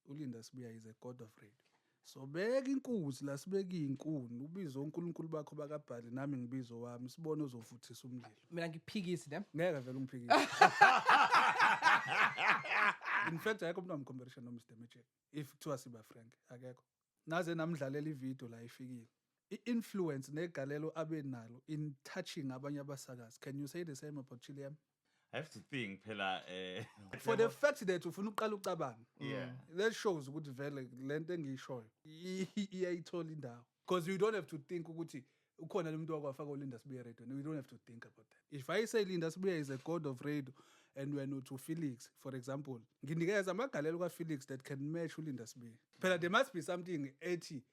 ulinda sibuya is a god of radio sobeka inkuzi la sibeka iy'nkuni ubize onkulunkulu bakho bakabhali nami ngibize owami sibone ozovuthisa umlilo mina ngiphikisi ne ngeke vele umphikise in fact akekho umuntu wamcomparison nomr magic if kuthiwa siba frank akekho naze namdlalela ividiyo la ifikile i-influence negalelo abe nalo in touching abanye abasakazi can you say the same about chiliam I have to think phela eh for the fact that ufuna uqala ucabanga yeah mm. that shows ukuthi vele lento engiyishoyo iyayithola indawo because you don't have to think ukuthi ukhona lo muntu wakwafaka ulinda sibuye radio you don't have to think about that if i say linda sibuye is a god of radio and when uthi ufelix for example nginikeza amagalelo kafelix that can match ulinda sibuye phela there must be something ethi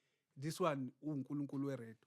this one ungunkulunkulu weredo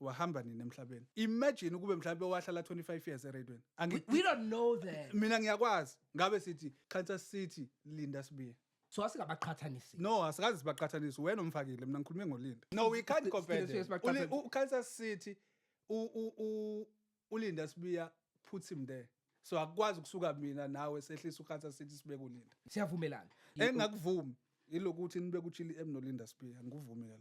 wahamba nini emhlabeni imagine ukube mhlawumbe wahlala 25 years eradweni we, we don't know that mina ngiyakwazi ngabe sithi qhatha sithi linda sibiye so asingabaqhathanisi no asikazi sibaqhathanisi wena umfakile mina ngikhulume ngolinda no we can't compare them ukhalisa sithi ulinda sibiya put him there so akukwazi ukusuka mina nawe sehlisa ukhatha sithi sibe kulinda siyavumelana engingakuvumi ilokuthi nibe kuchili emnolinda sibiya ngikuvumile